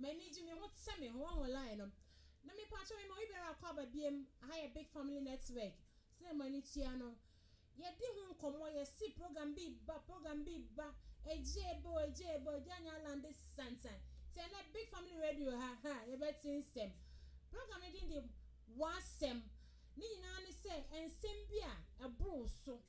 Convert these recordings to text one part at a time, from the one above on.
M'ani gye me ho te sɛ me ho ho line no na me pakyɛ me ma obi biara akɔ aba biom aha yɛ big family network sɛnea mo ani tua no yɛ di ho nkɔmɔ yɛ si program bi ba program bi ba agye ebe o agye ebe o agye anya alande santan ti ɛnɛ big family radio ha ha yɛ bɛ te nsɛm program no din de w'asɛm ne nyinaa ne sɛ nsɛm bi a ɛboro so.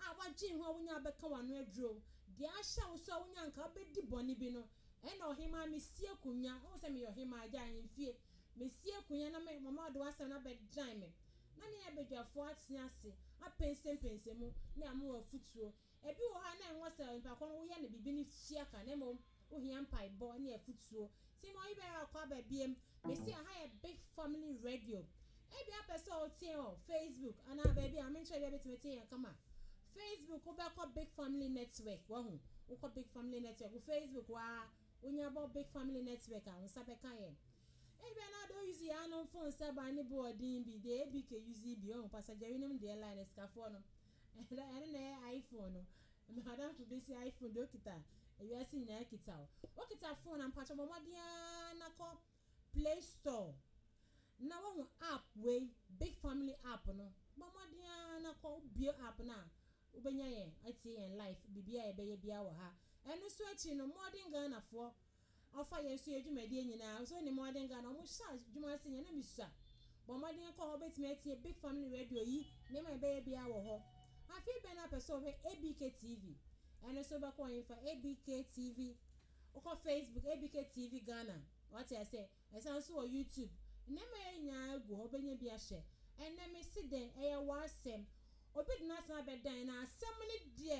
a woadwen ho a wonya bɛka w'ano aduro, deɛ ahyɛ wo so a wonya anka wobɛdi bɔne bi no, ɛnna ɔhemmaa, mesi akonnwa, wohu sɛ meyɛ ɔhemmaa, agya ahemfie, mesi akonnwa na me, mama wode w'asɛm no abɛdan me, na me ne abadwafoɔ atena ase apɛnsɛmpɛnsɛ mu, na ama wo afotuo. Ebi wɔ hɔ a na ɛnwɔ sɛ onipa korɔ no woyɛ no biribi no tua ka, na mmom. Wohia mpaebɔ ne afutuo. Ti no yibɛ a ɔkɔ aba biem. Mese aha yɛ big family radio. Ebia wopɛ sɛ wotie wɔ Facebook anaa baabi a menkyerɛ bia bɛtumi atie yɛn kama. Facebook wobɛkɔ big family network wahu. Wokɔ big family network wo Facebook hɔ aa wonya bɔ big family network a wo nsa bɛka yɛn. Ebia na wode wo use yɛanom phone sɛ ban ne boɔden bi deɛ ɛyɛ big ɛuse bi wahu. Pastor Jerry nom deɛ line asikafoɔ no. Ɛda ɛno na ɛyɛ iPhone no. M'adamfo bi se iPhone deɛ okita a wiase nyinaa kita o. Wokita phone a mpakyɛ bɔ mmɔden ara na kɔ play store na woahu app wei big family app no. Bɔ mmɔden ara na kɔ wobue app no a wobɛnya yɛn atie yɛn live biribiara a yɛbɛyɛ biara wɔ ha. Ɛno nso akyi no modern Ghanafoɔ Ɔfa yɛn so yɛ dwumadie nyinaa ɔsɛ ɔnim ɔde nka na ɔmo hyɛ adwuma ase nyɛ na me sua bɔ mmɔden kɔ hɔ wobɛtumi atie big family radio yi nneɛma ɛbɛyɛ biara wɔ hɔ afei bɛn na wopɛ sɛ wohwɛ ABK TV ɛno nso wobɛkɔ ɔhen fa ABK TV wokɔ Facebook ABK TV Ghana wate aseɛ ɛsan nso wɔ YouTube nneɛma yɛ nyinaa gu hɔ wobɛnya bi ahwɛ ɛnɛ mesi dɛn ɛyɛ w'asɛm obi de n'asɛm abɛdan na asɛm no deɛ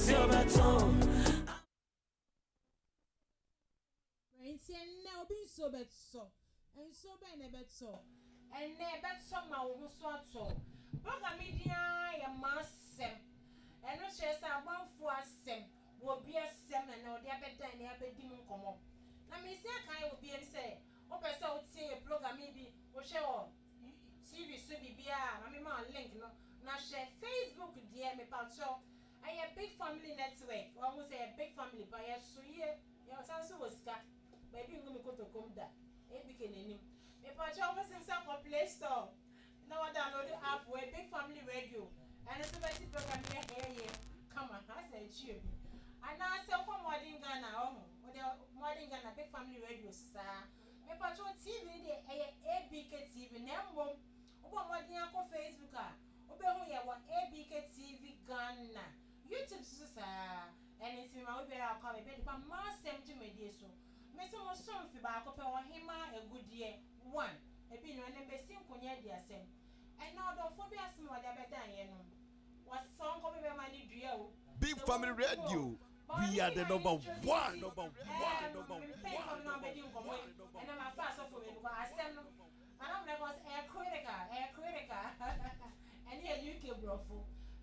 Enti ɛnnɛ, obi nsuo bɛtɔ. Nsuo bɛn na ɛbɛtɔ? Ɛnnɛ, ɛbɛtɔ ma wo ho nso atɔ wo. Bogami din ara yɛ m'asɛm. Ɛno kyerɛ sɛ abɔfoɔ asɛm, obi asɛm na nnɛ wɔde abɛdan ne abɛdi mu nkɔmmɔ. Na mesi akae wo biom sɛ, wopɛ sɛ wotie yɛ Bogami bi, wohwɛ wɔ TV so biribiara a, ma mema wo link no, na hwɛ Facebook deɛ, mepakyɛw, Ɛyɛ big family network wɔ ho sɛ ɛyɛ big family paa yɛso yie yɛsan nso wɔ sika baabi ngu me kotokom da Abike n'anim mepakyɛw mo se nsa kɔ play store na wɔ download app wei big family radio ɛno nso bɛte program yɛ hɛɛ yɛ kama asɛ akyie bi anaa sɛ wokɔ modern Ghana wɔ ho wode modern Ghana big family radio so saa mepakyɛw TV no deɛ ɛyɛ Abike TV na mmom wobɔ modern akɔ Facebook a Wobɛhu yɛn wɔ ABK TV Ghana, YouTube so nso saa. Ɛno nti mema obiara kwan ma bɛde ba M'Asɛm dwumadie so. Mese mo so mfe baako pɛ Ɔhemaa Agudeɛ one, ebi nni hɔ, ɛnɛ mɛsi nkonnwa adi asɛm. Ɛnɛ ɔdɔfoɔ bi asɛm a ɔde abɛdan yɛn no, wɔse sɛ ɔnkɔ baabi a ɛma no dua o, Big Family Radio, we are the number one, number one, number one, number one. Ɛnɛ mafa asɔfo mmienu kɔ asɛm no. Nana mena kɔ sɛ ɛyɛ critical ɛyɛ critical ɛne yɛ UK brɔfo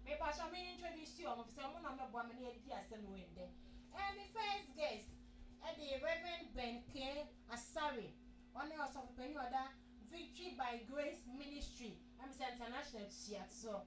mepakyɛw me introduce wɔn efisɛ wɔn na wɔbɛboa me na yɛadi asɛm wei ndɛ ɛyɛ me first guest ɛde Rev Ben Kay Asare ɔne ɔsɔfo panyin ɔda Victory by Grace Ministry ɛmesɛ international tua toɔ.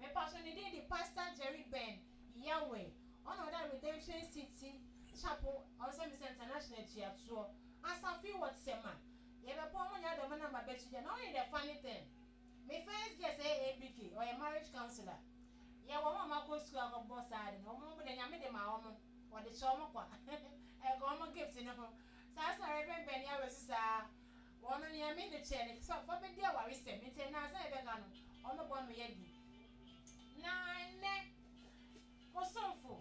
Mepatsɔ ne din de Pastor Jerry Ben Yawe, ɔna ɔda Redemption City Chapel Ɔnsɛmbisa International Etuatoɔ Asafo yi wɔ Tema. Yɛbɛpɔn mo nyinaa dɛ ɔbɛnam ba bɛkyir bia, na ɔnye dɛ funny thing, me first guest yɛyɛ ABK, ɔyɛ marriage counsellor. Yɛwɔ hɔn a wɔakɔ sukuu akɔbɔ saa adze no, hɔn mpo dɛ Nyame dze maa hɔn, wɔdze kyɛ hɔn kwa, nka hɔn gift no ho. Saa so na Rev Ben Yawe so saa. Wɔnom nea me de kyɛɛ no te sɛ ɔfa bedi awaresɛm, enti nnansa a ɛbɛba no, wɔbɛbɔ no adi. Na ɛnnɛ, wo somfo,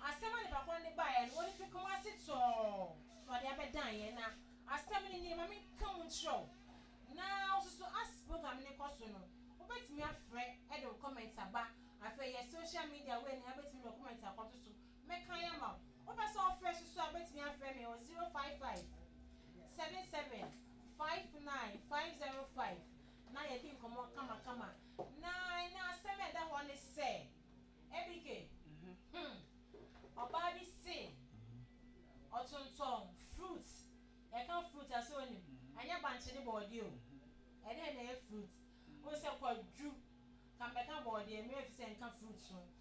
asɛm a nipa korɔ no de baeɛ no, ɔde fi koma ase tɔɔ na ɔde abɛdaeɛ, na asɛm no nie, ma menka mu nkyerɛ wo, na wosusu as program no rekɔ so no, wobɛtumi afrɛ de wo comment aba, afei yɛ social media wei no, wobɛtumi de wo comment akɔto so, Mɛkan ama wo. Wopɛ sɛ wofrɛ so nso a, wobɛtumi afrɛ me wɔ zero five five, seven seven, five nine, five zero five na yɛadi nkɔmmɔ kamakama. Na ɛnnɛ asɛm a ɛda hɔ ne sɛ, Abike, hmm, ɔbaa bi se ɔtontɔn fruit. Yɛka fruit a, sɛ wonim? Ɛnyɛ bankye ne bɔɔdeɛ o. Ɛdeɛn na ɛyɛ fruit? Wohu sɛ kwadwu, ka mebɛka bɔɔdeɛ, meremfi sɛ nka fruit ho.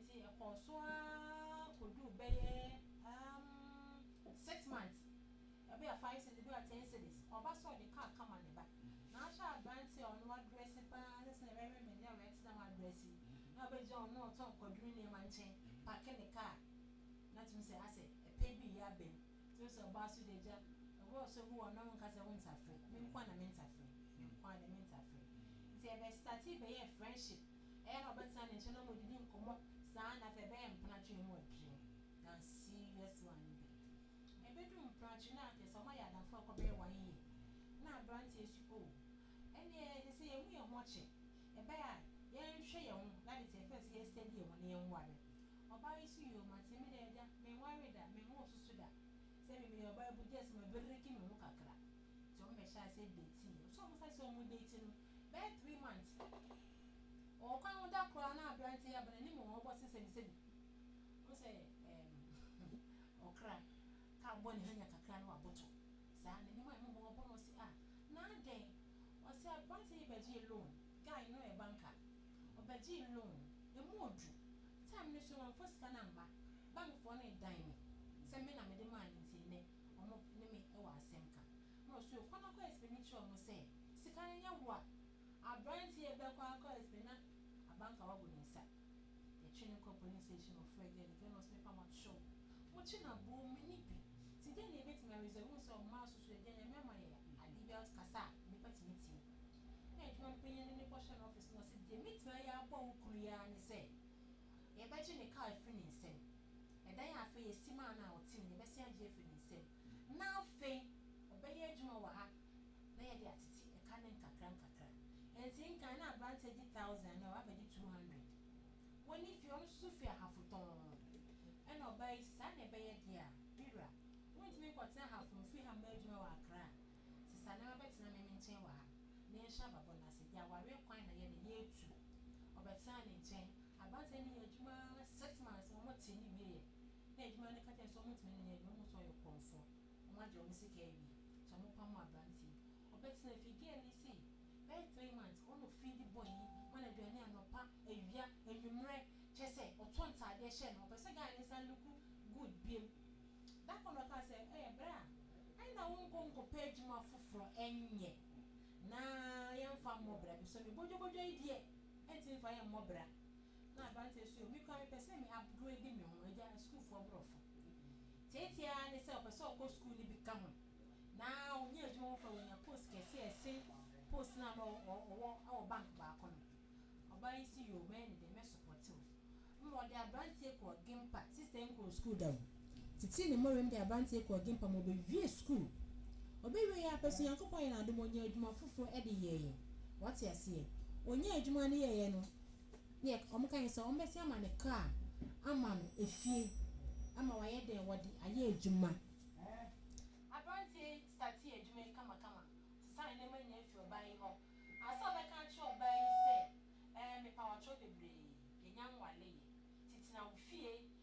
Ntsi ɛkɔɔ so ara kodur bɛyɛ um six months, bi a five cedis, bi a ten cedis, ɔba sɛ ɔde kaar kama ne ba. Na ahwɛ aberantsɛ a ɔno ɔadrɛse paa, sɛsɛ na wɛwɛ me na wɛtse dɛm adrɛse yi, na obegyina hɔ na ɔtɔn Kwadwo ne nneɛma nkyɛn, paake ne kaar, na tumi sɛ asɛ pɛ bi reyɛ aba mu. Ntsi ɔse ɔbaa so dɛ, Egya, ɔwɔ ɔsɔ bi wɔ hɔ na wonka sɛ wonntsa frɛ, me nkoa na menntsa frɛ, me nkoa dɛ menntsa frɛ. Ntsi yɛbɛstartee bɛyɛɛ friendship. Ɛyɛ na ɔbɛtena ne nkyɛn na wɔadidi nkɔmmɔ saa ara na afei ɛbɛyɛ mpratwe mu adwene. Na serious one bi. Ɛbɛduru mpratwe no a kyerɛ sɛ wɔayɛ adamfo a ɛkɔbɛyɛ one year na aberanteɛ su oh. Ɛnneɛ ɛsɛ sɛ yɛmu yɛn ho kyɛ. Ɛbɛyɛ a yɛnhwɛ yɛn ho na ade te ɛfɛ sɛ yɛ steady yɛn ho na yɛnware. Ɔbaa yi su yoo mate me dɛ agya menwaree da menwoo nso so da. Sɛ me meyɛ ɔbaa bu just mabiriki me ho kakra. Nti wɔbɛhyɛ aseɛ dating. Sɛ wɔsan sɛ wɔredate no Bɛyɛ three months wɔ ɔkwan ho da koraa na aberanteɛ yi aba n'anim wɔ ɔbɔ se sɛmisɛmi wo sɛ ɛɛm ɔkra ka bɔ ne hanya kakra na waboto saa n'anim a ɛmomɔ ɔbɔ no ɔse a na adɛn ɔse aberanteɛ yi bɛgyee loan guy no yɛ banka ɔbɛgyee loan ɛmu odu time no so wamfa sika no amma bankfoɔ no dan me sɛ me na mede maa no nti nnɛ ɔmo ne me wɔ asɛm ka na ɔsɔre kɔ na kɔ ɛspin no kyerɛ ɔmo sɛ sika no nyɛ wo a abranteɛ yi bɛkɔ akɔ ɛspin na abanka wagu ne nsa yɛtwe no kɔ polis station ɔfrɛ gɛl no gɛl no ɔse mepa mo kyɛw mo kye na boo me ni bi nti dɛn na yɛbɛtumi ayɛ ɔse wohu sɛ ɔmaa so so agya nyame ama yɛ adeɛ biara ɔte kasa a nnipa tumi tie na adwuma no panyin no ne kɔ hyɛ no office na ɔse deɛ mɛtumi ayɛ aboa wo kunu yi ara ne sɛ yɛbɛgye ne car afiri ne nsam ɛdan a afei yɛsi maa no a ɔte mu no yɛbɛsan agye afiri ne nsam. na afei ɔbɛyɛ adwuma wɔ ha na yɛde atete ɛka no nkakrankakra. Enti nkan na aberanteɛ gye thousand na wabɛgye two hundred. Wɔnni fie, ɔno nso firi Ahafo tɔnn. Ɛna ɔbaa yi, saa na ɛbɛyɛ deɛ a, me wura, wontumi nkɔtena Ahafo, mfiri ha mmɔ adwuma wɔ Accra. Te saa na wabɛtena me me nkyɛn wɔ ha na yɛnhyɛ ababɔ no ase. Deɛ awareɛ kwan na yɛn no, yɛretu. Ɔbɛtenaa ne nkyɛn. Aberanteɛ no yɛɛ adwuma ara six months, wɔtee no wieeɛ. na adwuma no ka kyerɛ no sɛ wɔntumi nyɛ adwuma, wɔhu sɛ ɔyɛ korɔmfoɔ, wɔagye wɔn sika awie, nti wɔpam aberanteɛ yi. Ɔbɛtena fie, girl yi sei bɛyɛ three months, ɔna ɔfiri de boy yi ma no aduane anɔpa, awia, anwummerɛ, kyerɛ sɛ ɔtɔ ntaadeɛ hyɛ no, ɔpɛ sɛ guy no san look good biom. Da koro no ɔkaa sɛ, ɛyɛ berɛ a ɛnna wonkɔ nkɔpɛ adwuma foforɔ nyɛ na yɛmfa mmɔ bra, ɛfiri sɛ me bodwobodwo yi deɛ, ɛntumi mfa yɛn mmɔ bra. na aberanteɛ so o, me koraa mepɛ sɛ me aboro adi me ho, agya sukuufoɔ borɔfo teetee ara ne sɛ ɔpɛ sɛ ɔkɔ sukuu no bi ka ho na ɔnya adwuma mu fa ɔnya post kɛse a ɛsen post no a na ɔwɔ wɔ bank baako no, ɔbaa yi se yoo, mɛyɛ ne dɛn, mɛsopɔte wo, ɛma ɔde aberanteɛ kɔɔ Gimpa, sister yi nkɔɔ sukuu da o. titiri ne mmɔrem de aberanteɛ kɔɔ Gimpa ma ɔbɛwiee sukuu. Ɔbɛwieeɛ ara pɛ so, Nyankopɔn yɛɛ no adom, ɔnyaa adwuma foforɔ de yɛeɛ. Wate aseɛ? Ɔnyaa adwuma no yɛeɛ no, deɛ wɔka ne sɛ wɔbɛsan ama no kaa ama no efie ama wayɛ dɛn? Wɔde ayɛ adwuma. Aberanteɛ yi startee adwuma yi kamakama, sesaa nneɛma nyinaa firi ɔbaa yi hɔ. Ansa na ɔbɛka akyerɛ ɔbaa yi sɛ, Ɛɛ, mepa wo atorɔ bebree, yɛnnya nwareeɛ. Tete na wo fie,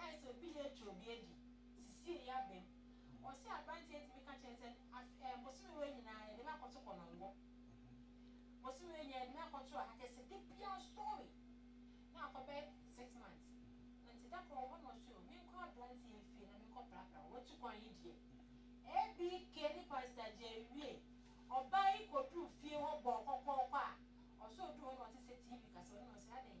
Ayɛ sɛ obi yɛ atwa obi adi sisie yɛ abam wɔ sɛ abranteɛ tumi ka kyerɛ sɛ afe ɛɛ bosome wei nyinaa yɛde me akɔto kɔnɔngo bosome wei nyinaa yɛde me akɔto aha kyɛ sɛ de biara story na akɔbɛ six months nti da koro ɔhɔ na ɔso o menkɔ abranteɛ fie na menkɔ prapra watu kwan yi deɛ ABK ne pastor gye awie ɔbaa yi kɔduru fie hɔ bɔɔ kɔkɔɔkɔ a ɔso ɔduru hɔ na ɔte sɛ TV kasa ɔno na ɔse adɛn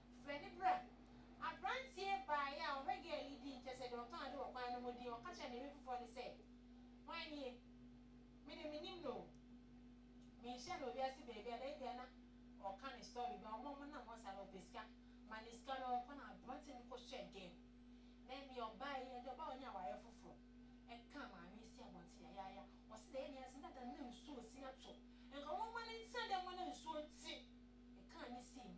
Frɛ no bra. Aberanteɛ baeɛ a ɔhwɛ gɛɛl yi din kyerɛ sɛ deɛ ɔtɔn ade wɔ kwan no ho din, ɔka kyerɛɛ ne yere foforɔ no sɛ, Hwan nie? Me deɛ mennim no o. Menhyia no wɔ wiase baabi a, na ebia na ɔreka ne story bi, ɔma ɔmo nam hɔ saa na ɔpɛ sika, ma no sika na ɔkɔ na aberanteɛ no kɔ hyɛɛ gɛɛl na ɛnneɛ ɔbaa yi, ɛnde ɔbaa a ɔnya awareɛ foforɔ, ɛkaa maame yi si abɔnten yayaaya. Ɔse deɛ ɛyɛ ne ya sɛ na da no na nsuo resi ato, nka wɔmma no ntena dɛm hɔ na nsuo nte, ɛkaa no sii mu.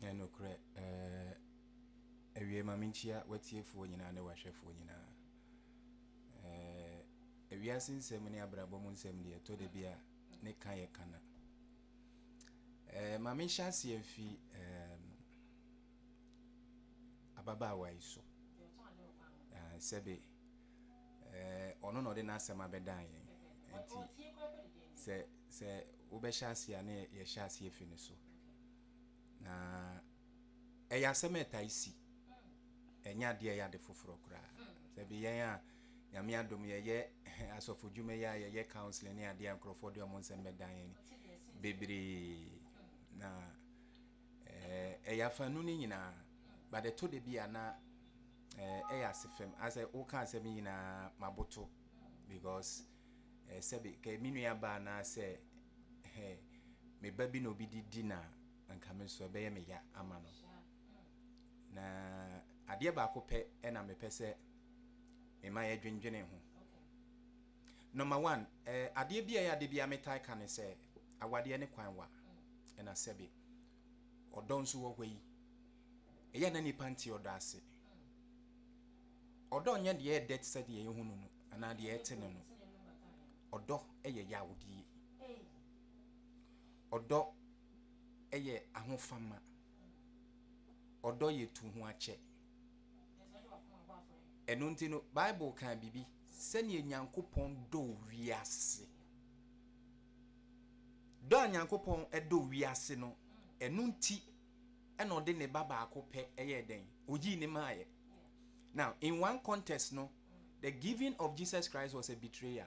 Ɛyɛ nokorɛ, ɛɛɛ, Awiei ma menkyia w'atiefoɔ nyinaa ne w'ahwɛfoɔ nyinaa. Ɛɛɛ, Ewiase nsɛm ne abrabɔ mu nsɛm deɛ ɛtɔ da bi a ne ka yɛ kana. Ɛɛɛ, Ma menhyɛ aseɛ mfi ɛɛm, ababaawa yi so. Ɛɛɛ, Sɛbe, ɛɛɛ, ɔno na ɔde n'asɛm abɛdan yɛn. Nti, sɛ, sɛ wobɛhyɛ aseɛ a ne yɛhyɛ aseɛ fi ne so. na ɛyɛ asɛm a ɛtae si ɛnyɛ adeɛ ɛyɛ ade foforɔ koraa sɛ bi yɛn a nyame adom yɛyɛ asɔfo dwuma yi a yɛyɛ counseling ne adeɛ a nkurɔfoɔ de ɔmo nsɛm bɛdan yɛn bebree na ɛyɛ eh, afanu no nyinaa but ɛtɔ da bi a na eh, ɛyɛ ase fam asɛ woka asɛm nyinaa maboto because eh, sɛbe kɛ me nua baa na sɛ eh, me ba bi na obi de di na nka me nso ɛbɛyɛ me ya ama no na adeɛ baako pɛ ɛna mepɛ sɛ mema yɛdwendwene ho number one eh, adeɛ bi a ɛyɛ adeɛ bi a metae ka ne sɛ awadeɛ ne kwan wa ɛna sɛbe ɔdɔ nso wɔ hɔ yi ɛyɛ na nipa nti ɔdɔ ase Ɔdɔ nyɛ deɛ ɛdɛ te sɛ deɛ yɛhunu no anaa deɛ yɛte no no. Ɔdɔ yɛ yawdie. Ɔdɔ yɛ ahofama. Ɔdɔ yɛ tu ho akyɛ. Ɛno nti no, Bible kaa biribi sɛdeɛ Nyankopɔn dɔ wiase. Dɔ a Nyankopɔn dɔ wiase no, ɛno nti ɛna ɔde ne ba baako pɛ ɛyɛ dɛn oyii ne maayɛ now in one context no the giving of jesus christ was a betrayer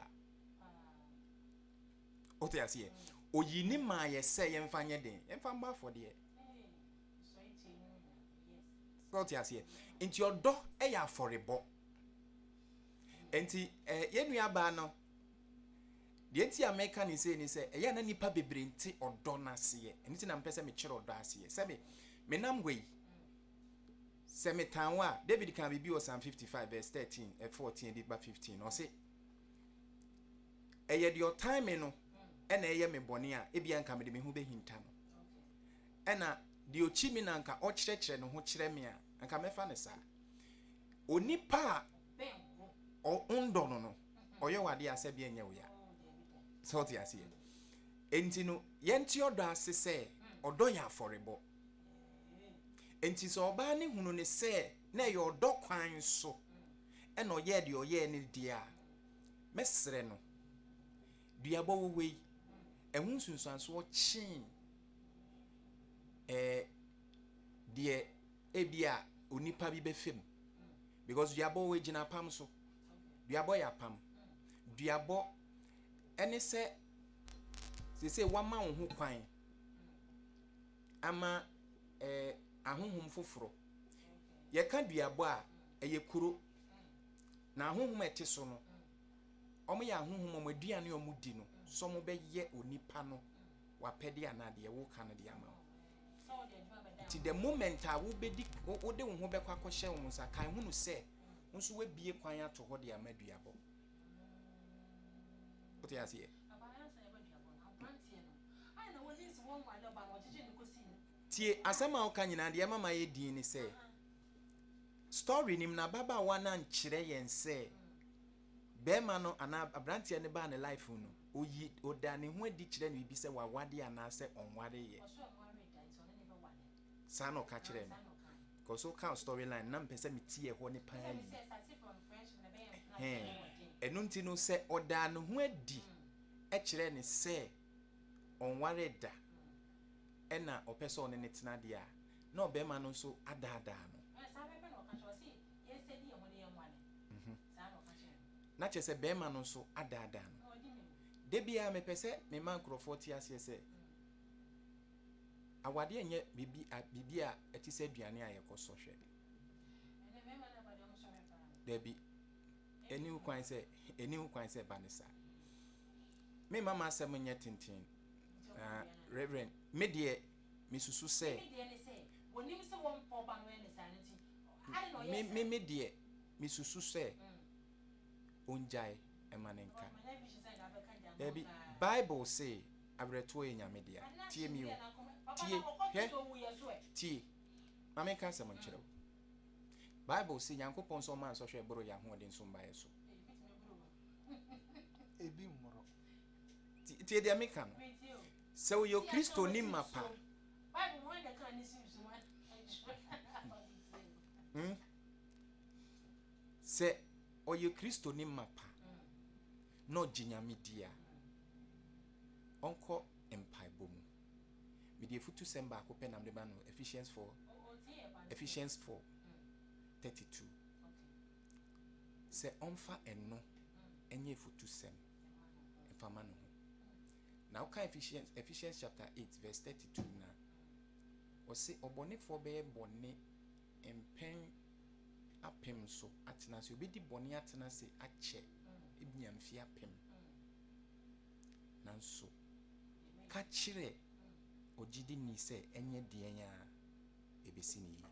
wote aseɛ oyi ne maa yɛ sɛ yɛmfa nyɛ den yɛmfa mbɔ afɔdeɛ wote aseɛ nti ɔdɔ yɛ afɔrebɔ nti eh, yɛnnuabaa no Deɛ nti a meka no sei ne sɛ, ɛyɛ a na nnipa bebree nte ɔdɔ no aseɛ. Ɛno nti na mepɛ sɛ mekyerɛ ɔdɔ aseɛ. Sɛ me, menam hɔ yi, sɛ metan wo a, David kaa biribi wɔ Psalm 55 verse 13, 14 de ba 15. Ɔse, ɛyɛ deɛ ɔtan me no ɛna ɛyɛ me bɔne a, ebia nka mede me ho bɛhinta no. Ɛna deɛ ɔkyi me na nka ɔkyerɛkyerɛ ne ho kyerɛ me a, nka mɛfa no saa. Onipa a ɔndɔ no no ɔyɛ wɔ adeɛ a sɛ deɛ nyɛ wo ya sɛ ɔte aseɛ enti no yɛnte ɔdɔ ase sɛ ɔdɔ yɛ afɔrebɔ enti sɛ ɔbaa ne hunu ne sɛ na ɛyɛ ɔdɔ kwan so ɛna ɔyɛɛ deɛ ɔyɛɛ ne deɛ a mɛsrɛ no duabɔ wɔ hɔ yi ɛho nsunsuansoɔ kyee ɛɛ deɛ ebi a onipa bi bɛfam Because duabɔ egyina apam so. Duabɔ yɛ apam. Duabɔ ɛne sɛ sese wama wo ho kwan ama ɛɛ ahohom foforɔ. Yɛka duabɔ a ɛyɛ kuro na ahohom a ɛte so no wɔn yɛ ahohom wɔn aduane a wɔn di no sɛ wɔn bɛyɛ onipa no wapɛde anaa deɛ woka no de ama wo. Nti the moment a wobɛdi, wode wo ho bɛkɔ akɔhyɛ wo nsa, kan hunu sɛ wo nso wabie kwan ato hɔ de ama duabɔ. Wote aseɛ? Tie asɛm a woka nyinaa deɛ ɛma ma yɛ din ne sɛ story nim na ababaawa no ankyerɛ yɛn sɛ Bɛɛma no anaa abranteɛ no baa ne life mu no, oyi, odaa ne ho adi kyerɛɛ no bibi sɛ wawade anaa sɛ ɔnware yɛ. Ɔsɛ ɔnware da nti ɔne ne bɛ ware. Saa na ɔka kyerɛɛ me. Cause wo ka story line na mpɛ sɛ me ti ɛhɔ ne paa yie. Ɛsɛ sɛ starting from friendship na ɛbɛyɛ mpena sɛ ɛyɛ wɔ den. Ɛno nti no sɛ ɔdaa ne ho adi kyerɛɛ ne sɛ ɔnware da ɛna ɔpɛ sɛ ɔne ne tena deɛ a, na ɔbɛɛma no nso adaadaa no. Saa bɛ pɛ na ɔka kyerɛ, ɔse yɛn sɛdi yɛn ho ne yɛn ware. na kyerɛ sɛ barima no nso adaadaa no. Da biara mepɛ sɛ mema nkurɔfoɔ te aseɛ sɛ awadeɛ nyɛ biribi a ɛte sɛ aduane a yɛkɔ sɔ hwɛ. Dabi, ɛni ho kwan sɛ ɛni ho kwan sɛ ɛba ne saa. Mema m'asɛm nyɛ tenten. Uh, Reverend, me deɛ mesusu sɛ. Me deɛ mesusu sɛ ongyae ɛma no nka. Dabi bible se awerɛtoɔ yɛ nyame dea. Tie mi o. Tie hwɛ tie. Ma menka asɛm nkyerɛ wo. Bible se Nyankopɔn sɛ ɔma nsɔhwɛ boro yɛ ahoɔden so mbaeɛ so. Ebi mmoro. Tie deɛ meka no. Sɛ woyɛ Kristoni mapa hmm? Sɛ ɔyɛ Kristoni mapa na ɔgye Nyame di a, ɔnkɔ mpaebɔ mu. Mede afutusɛm baako pɛ nam de ba no Ephesians 4 Ephesians 4 32 sɛ ɔmfa ɛno ɛnyɛ afutusɛm mfa ma no ho Na wokan Ephesians, Ephesians chapter 8 verse 32 na ɔse ɔbɔnefoɔ bɛyɛ bɔne mpɛn apem so atena ase obɛdi bɔne atena ase akyɛ ebia mfe apem nanso ka kyerɛ ogyidi ni sɛ ɛnyɛ deɛn a ɛbɛsi ne yie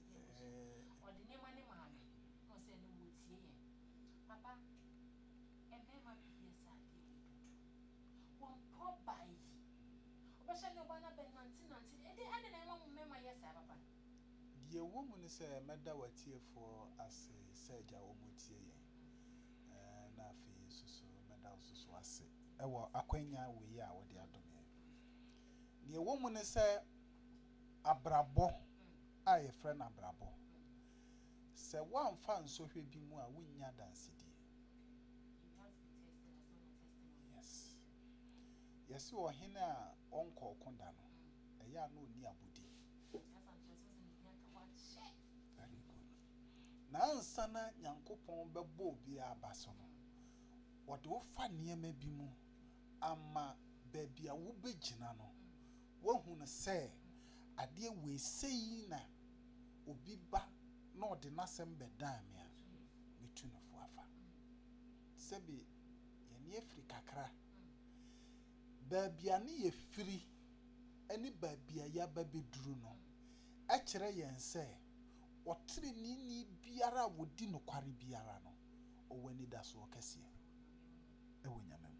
Deɛ ɛwɔ mu ne sɛ, mɛda w'atiefoɔ ase sɛdeɛ wɔtie yɛn, na afei nso so mɛda wo nso so ase wɔ akwanya wei a wode adom yɛn. Deɛ ɛwɔ mu ne sɛ, Abrabɔ a yɛfrɛ no abrabɔ. Sɛ woamfa ansɔ hwɛ bi mu a, wunnya adansedie. Yes. Yɛse ɔhene a ɔnkɔ ɔko da no, ɛyɛ a na ɔnni abodin. Very good. Na ansa na Nyankopɔn bɛbɔ obi abaso no, ɔde wo fa nneɛma bi mu ama baabi a wobɛgyina no. Woahu no sɛ adeɛ wei sei na obi ba na ɔde n'asɛm bɛdan me a, mɛtu no fo afa. Sɛbe yɛne afiri kakra. Baabi a ne yɛfiri ne baabi a yɛaba bɛduru no kyerɛ yɛn sɛ ɔteneneeni biara a ɔdi nokware biara no, ɔwɔ anidasoɔ kɛseɛ wɔ Nyame mu.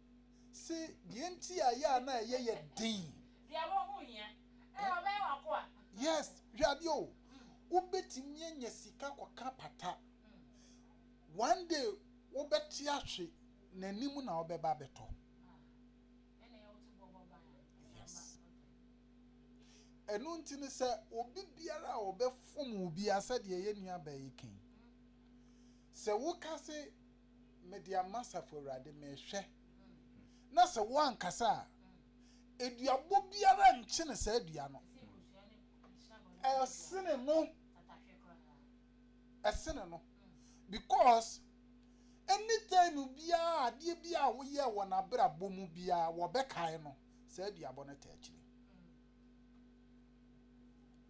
se deɛ nti a yɛ a na ɛyɛ yɛ den. Deɛ wɔ ho hia. Ɛ ɔbɛyɛ w'akoa. Yes, hwɛ adeɛ o. Wobɛtumi anya sika kɔka pata. One day wobɛte ahwe n'anim na ɔbɛba abɛtɔ. Yes. Ɛno nti no sɛ obi biara a ɔbɛfom wo biara sɛdeɛ yɛ nua baa yi kan. Sɛ woka se. mede ama asafo Awurade, mehwɛ, na sɛ woankasa a, eduabɔ biara nkyene saa dua no. Ɛsene no. Ɛsene no. Because anytime biara adeɛ biara a woyɛ wɔ n'abrabɔ mu biara wɔbɛkae no saa duabɔ no ta akyire.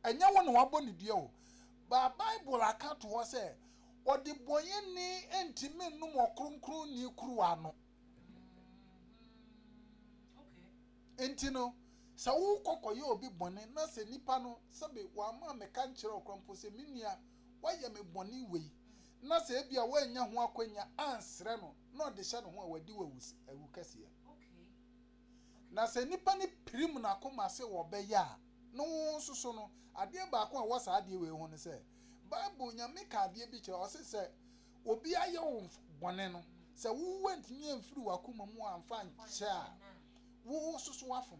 Ɛnyɛ wo na wabɔ ne dua o. But Bible aka to hɔ sɛ, Ɔdebɔneyɛni ntumi nnom Ɔkronkronni kuruwa no. Enti no, sɛ wokɔ kɔyɛ obi bɔne na sɛ nipa no, sɛbe wamma ammɛka ankyerɛ wo koraa mpo sɛ, Me nua, woayɛ me bɔne wei, na sɛ ebia woannya ho akwannya ansrɛ no na ɔde hyɛ ne ho a, wadi wo awukɛseɛ. Na sɛ nnipa no pirim n'akoma sɛ wɔbɛyɛ a, na wɔn nso so no. Adeɛ baako a ɛwɔ saa adeɛ wei ho ne sɛ, Bible, Nyame ka adeɛ bi kyerɛ, ɔse sɛ obi ayɛ wo bɔne no, sɛ wo woantumi amfiri w'akoma mu amfa ankyɛ a, wo nso so wafom.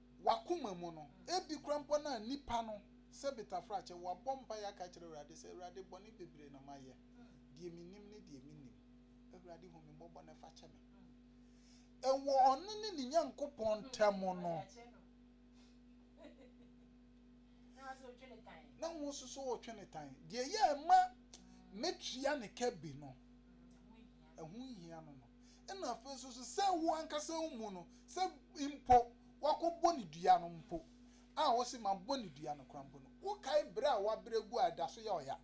W'akoma mu no, ebi koraa mpo na nnipa no, sɛ betafrakyɛ, wabɔ mpaeɛ aka akyerɛ Awurade sɛ, Awurade, bɔne bebree na mayɛ, deɛ menim ne deɛ mennim. Awurade, hu me mmɔbɔ na fa kyɛ me. Ɛwɔ ɔno ne ne Nyankopɔn ntam no, na ho nso so ɔretwe ne tan. Deɛ ɛyɛ a ɛma mɛtua ne ka bi no, ɛho nhia no no. Ɛna afei nso so sɛ wo ankasa wo mu no, sɛ mpo woakɔbɔ no dua no mpo, a wose mabɔ no dua no koraa mpo no, wokae berɛ a woabrɛ agu a ɛda so yɛ ɔya?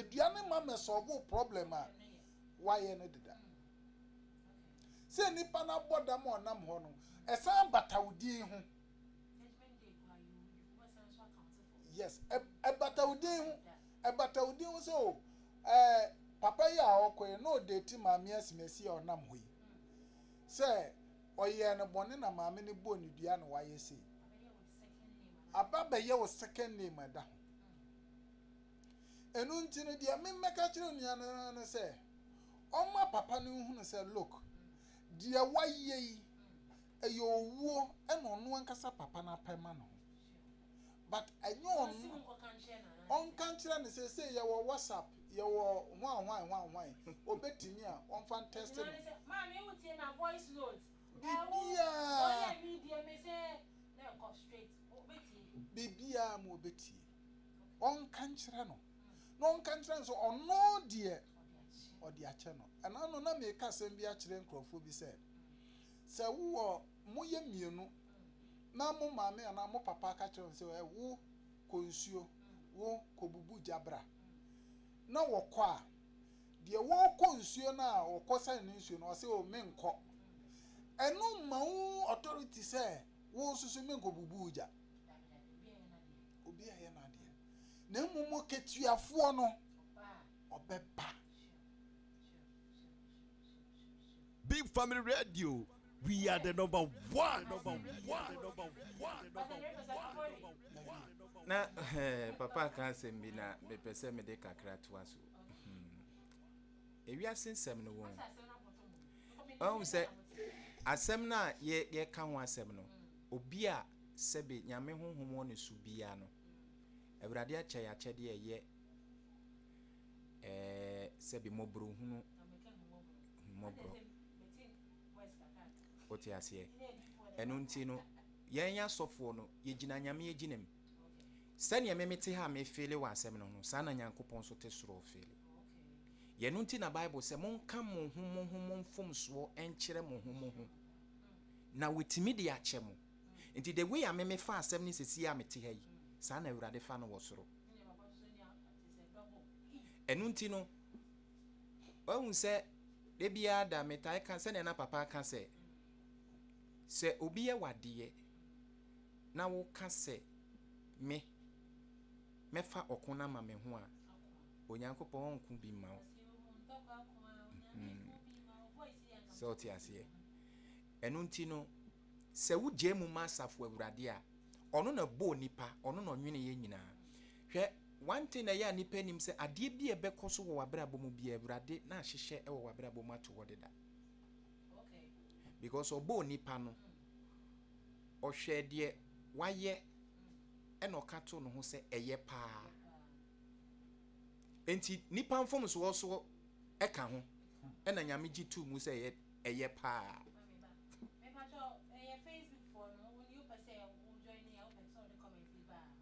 Dua no mma mmɛsɔlve wo problem a woayɛ no deda. Sɛ nnipa no abɔ dam a ɔnam hɔ no, ɛsan bata wo din ho. Yes, ɛbata wo din ho. ɛbata wo din ho sɛ o ɛɛ papa yi a ɔkɔ yi na ɔdeti maame asimasi a ɔnam hɔ yi sɛ ɔyɛɛ no bɔne na maame no bɔɔ ne dua na wayɛ sei aba bɛyɛ wo second name ɛda ho ɛno nti no deɛ memmɛka kyerɛ nnua no no sɛ ɔma papa no nhunu sɛ look deɛ wayɛ yi ɛyɛ owuo ɛna ɔno ankasa papa no apɛ ma no ho but ɛnyɛ ɔno ɔnka nkyerɛ no sɛ sei yɛwɔ WhatsApp yɛwɔ hwan hwan hwan hwan ɔbɛtumi a ɔmfa ntɛste no bibiaa bibiaa ma ɔbɛtie ɔnka nkyerɛ no na ɔnka nkyerɛ no sɛ ɔno deɛ ɔde akyɛ no ɛna no na meka asɛm bi akyerɛ nkurɔfoɔ bi sɛ sɛ wowɔ moyɛ mmienu na mo maame anaa mo papa aka kyerɛ wɔn sɛ, ɛ, wo kɔ nsuo, wo kɔ bubu gya bra, na wɔkɔ a, deɛ wɔrekɔ nsuo no a wɔkɔ sane no nsuo no, ɔsɛ, o, menkɔ. Ɛno mma wo authority sɛ wo nso so menkɔ bubu wo gya. Obi ayɛ n'adeɛ. Na mmom katuafoɔ no, ɔbɛba. Big Family Radio We are the number one. Na eh, papa ka asɛm bi na mepɛ sɛ mede kakra toa so. Hmm. Ewiase nsɛm no wɔn. Ɔhu sɛ asɛm no a yɛka ho asɛm no, obi a sɛbe nyame honhom wɔ ne so biara no, Awurade akyɛ yɛ akyɛdeɛ ɛyɛ eh, sɛbe mmɔborɔhunu mmɔborɔ. Wote aseɛ? Ɛno nti no, yɛn asɔfoɔ no, yɛgyina Nyame agyina mu. Sɛdeɛ me mete ha a mefeele wɔ asɛm no ho, saa na Nyankopɔn nso te soro ɔfeele. Yɛno nti na Bible sɛ, monka mo ho mo ho mo mfomsoɔ nkyerɛ mo ho mo ho, na wɔtumi de akyɛ mo. Nti the way a me mefa asɛm no sɛsie a mete ha yi, saa na Awurade fa no wɔ soro. Ɛno nti no, Woahu sɛ da biara da metae ka sɛnea na papa ka sɛ, sɛ obi yɛ wadeɛ na woka sɛ me mɛfa ɔko no ama me ho a, Onyankopɔn ɔnko bi mma wo. Hmm. Sɛ ɔte aseɛ. Ɛno nti no, sɛ wogyae mu ma asafo awurade a, ɔno na bɔɔ nipa, ɔno na ɔnwene yɛ nyinaa. Hwɛ, one thing na ɛyɛ a nnipa nnim sɛ adeɛ bi a ɛbɛkɔ so wɔ w'abrabɔ mu biara, Awurade n'ahyehyɛ wɔ w'abrabɔ mu ato hɔ deda. Because ɔbɔɔ nipa no, ɔhwɛɛ deɛ wayɛ ɛna ɔka to no ho sɛ ɛyɛ paa. Enti nipa mfomsoɔ so ɛka ho ɛna Nyame gye too mu sɛ ɛyɛ paa.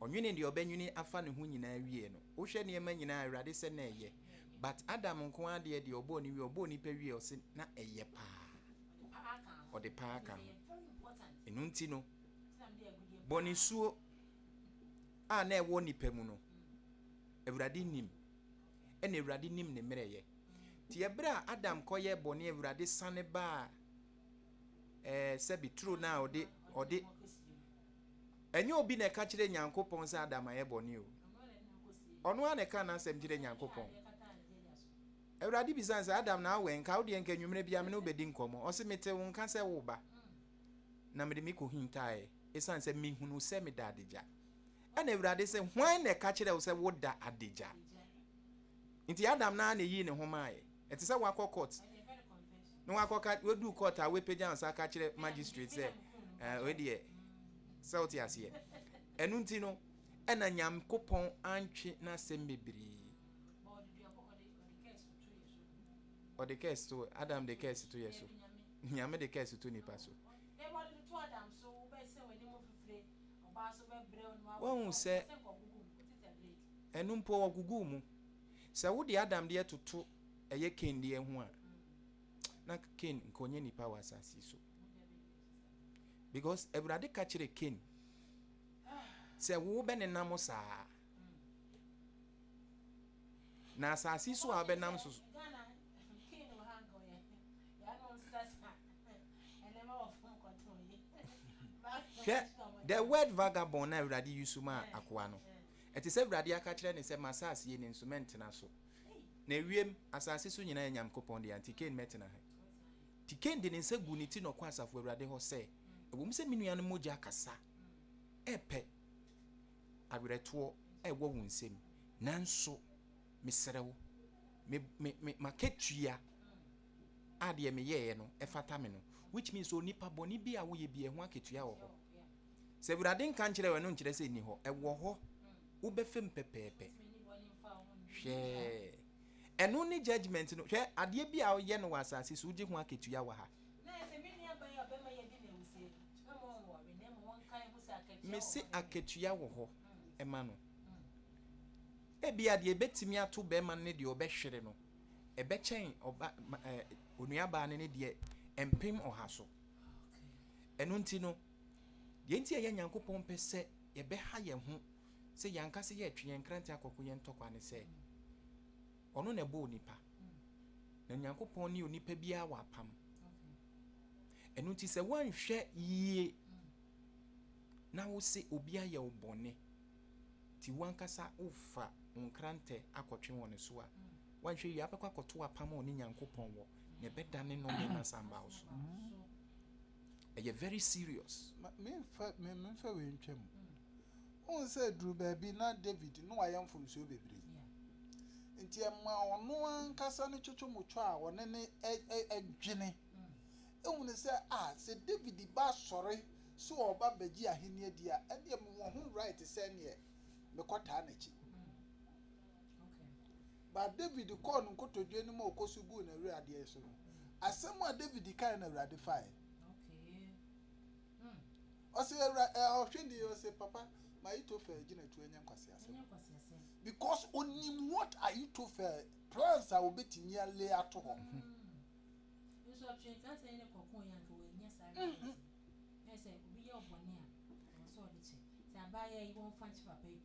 Ɔnwenee deɛ ɔbɛnwene afa ne ho nyinaa wieɛ no, wohwɛ nneɛma nyinaa a, Awurade sɛ na ɛyɛ. But Adam nko ara deɛ, deɛ ɔbɔɔ no wieɛ, ɔbɔɔ nipa wieɛ, ɔse na ɛyɛ paa. Ɔde paa ka ho. Ɛno nti no, bɔnesuo a na ɛwɔ nipa mu no, Awurade nim. Ɛna Awurade nim ne mmerɛyɛ. Nti ɛberɛ a Adam kɔyɛ bɔne, Awurade sane baa ɛɛ sɛbi turo no a ɔde ɔde Ɛnyɛ obi na ɛka kyerɛ Nyankopɔn sɛ Adam ayɛ bɔne o. Ɔno ara na ɛka n'asɛm kyerɛ Nyankopɔn. Awurade bisa no sɛ, Adam na awɛ nka wo deɛ nka anwummerɛ biara me ne wo bɛdi nkɔmmɔ. Ɔse, mete wo nka sɛ woreba. Na mede me kɔhintaeɛ ɛsiane sɛ mehunuu sɛ meda adagya. Ɛna Awurade se, hwan na ɛka kyerɛ wo sɛ woda adagya? Nti Adam no ara na ɛyii ne ho maaeɛ. Ɛte sɛ woakɔ court Na wakɔ ka wadu court a wapagya nsa aka kyerɛ magistrate sɛ eh, wei deɛ sɛ wote aseɛ ɛno nti no ɛna nyankopɔn antwe n'asɛm bebree ɔde kɛs to adam de kɛs to yɛ so nyame de kɛs to nipa so wahu sɛ ɛno mpo ɔgugu mu sɛ wode adam deɛ toto Ɛyɛ Kain deɛ ho a, na Kain nka ɔnyɛ nipa wɔ asase yi so. Because Awurade ka kyerɛ Kain sɛ wo bɛnenam saa na asase so a wobɛnam so hwɛ the word vagabond na Awurade yi so ma akoa no ɛte sɛ Awurade aka kyerɛ ne sɛ ma asase yi ne nso mɛntena so. na ewiem asase so nyina yɛ Nyamkopɔn dea, nti Kain mɛtena he? Nti Kain de ne nsa guu ne ti na ɔkɔɔ Asafo Awurade hɔ sɛ, Ɛwɔ mu sɛ me nua no mogya kasa pɛ awerɛtoɔ wɔ wo nsam, nanso mesrɛ wo, me, me, me, m'akatua a deɛ meyɛeɛ no ɛfata me no, which means onipa bɔne bi a woyɛ bi ɛho akatua wɔ hɔ. Sɛ Awurade nka nkyerɛ wo, ɛno nkyerɛ sɛ ɛni hɔ. Ɛwɔ hɔ. Wobɛfa mu pɛpɛɛpɛ. Hwɛ. Ɛno ne judgment no. Hwɛ, adeɛ bi a woyɛ no wɔ asase so, wogye ho akatua wɔ ha. Mese akatua wɔ hɔ ma no. Ebia deɛ ɛbɛtumi ato bɛrima no ne deɛ ɔbɛhwere no, ɛbɛkyɛn ɔba onuabaa no ne deɛ mpem ɔha so. Ɛno nti no, Deɛ enti a ɛyɛ Nyankopɔn pɛ sɛ yɛbɛha yɛn ho sɛ yɛn ankasa yɛretwe yɛn nkrante akɔ ko yɛn ntɔkwa ne sɛ, Ɔno na ɛbɔɔ onipa, na Nyankopɔn ne onipa biara wɔ apam. Ɛno nti sɛ woanhwɛ yie na wose obi ayɛ wo bɔne, ti wankasa wofa wo nkrantɛ akɔtwe wɔ ne so a, woanhwɛ yie abɛkɔ akɔto apam a ɔne Nyankopɔn wɔ, na ɛbɛdane nnome ne asambaw so. ɛyɛ very serious. Ma me nfa me me nfa wei ntwa mu. Wohu sɛ duru baabi na David na wayɛ mfomsoɔ bebree. Nti ɛma ɔno ankasa ne twotwomotwo a ɔne ne ɛ dwene ehunu sɛ a sɛ David ba sɔre sɛ ɔba bɛgye ahenni adi a ɛdeɛ mewɔ ho right sɛ ɛneɛ mekɔtaa n'akyi. But David kɔɔ no nkotodwe anim a ɔkɔ so guu n'awura adeɛ so no, asɛm a David kaeɛ na Awurade faeɛ. Ɔse awura eh, ɔhwe deɛ ɔse papa ma Ahithophel gyinatuo nyɛ nkwaseasɛm. Because onim what Ahithophel plans a obetumi a lay ato hɔ. Nso ɔtwee nkrataa yi ne kɔkoo yɛ anka wanyɛ saa realize.